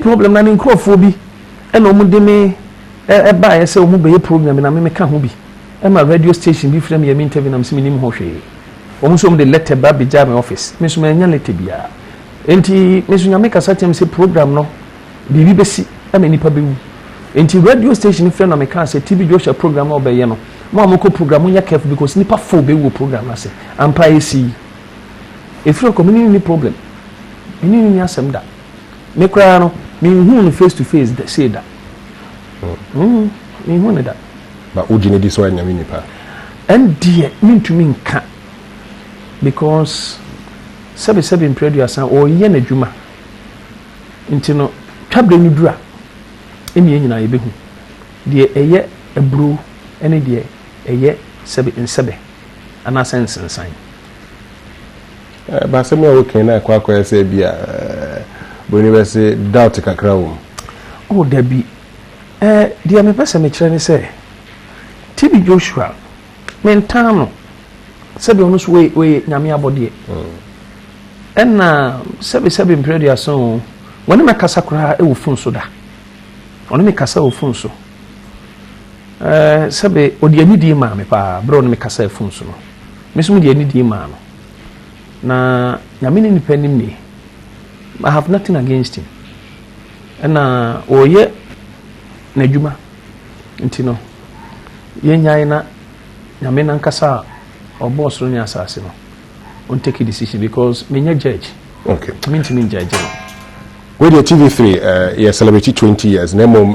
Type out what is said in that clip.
Problem na ne nkurɔfoɔ bi na wɔn de me baeɛ sɛ wɔn bɛyɛ program bi na me me ka ho bi ɛma radio station bi frɛ me yɛ me interview na me se me nim ho hwee wɔn nso wɔn de letter ba bɛ gya me office me nso me anya letter biara enti me nso nyame kasa kyɛm sɛ program no biribi bɛsi ɛna nipa bɛwu enti radio station frɛ na me ka sɛ TB Joshua program na ɔbɛyɛ no mo a mokɔ program mo nyɛ careful because nipa fo bɛwu wɔ program no ase ampa esi efiri ɔkɔ me ne ni problem me ne ni asɛm da. Me koraa no, menhuu no face to face da sei da. Mm, menhuu no da. Ba wogye no di sɛ ɔyɛ nyame nipa? Ɛndeɛ mentumi nka because sɛbesɛbe mprɛ aduasa ɔyɛ n'adwuma nti no twaberɛ no dura ɛne yɛ nyinaa yɛbɛhu deɛ ɛyɛ aburo ne deɛ ɛyɛ sɛbe nsɛbɛ anaasɛ nsensan But asɛm yi a wokae no akɔ akɔyɛ sɛ ebia buroni bɛse doubt kakra wom. Oh, dabi. Eh, deɛ mepɛ sɛ mekyerɛ ne sɛ, TB Joshua, mentaa no, sɛdeɛ ɔno nso ɔyɛ Nyame abɔdeɛ. Ɛna sɛbe sɛbe mprɛ aduasa o, wɔne me akasa koraa wɔ fon so da. Ɔne me kasa wɔ fon so. Eh, sɛbe ɔde anidie maa me paa berɛ ɔne me kasaa fon so no. Me nso mede anidie maa no. Na Nyame ne nipa nim nie. I have nothing against him. Ɛna ɔyɛ n'adwuma nti no yɛnyae na Nyame nankasa a ɔbɔɔ soro ne asase no ɔntake decision because menyɛ judge. Okay. Mentumi njudge no. Wei deɛ TV3 uh, eh, yɛ celebrate 20 years na mmom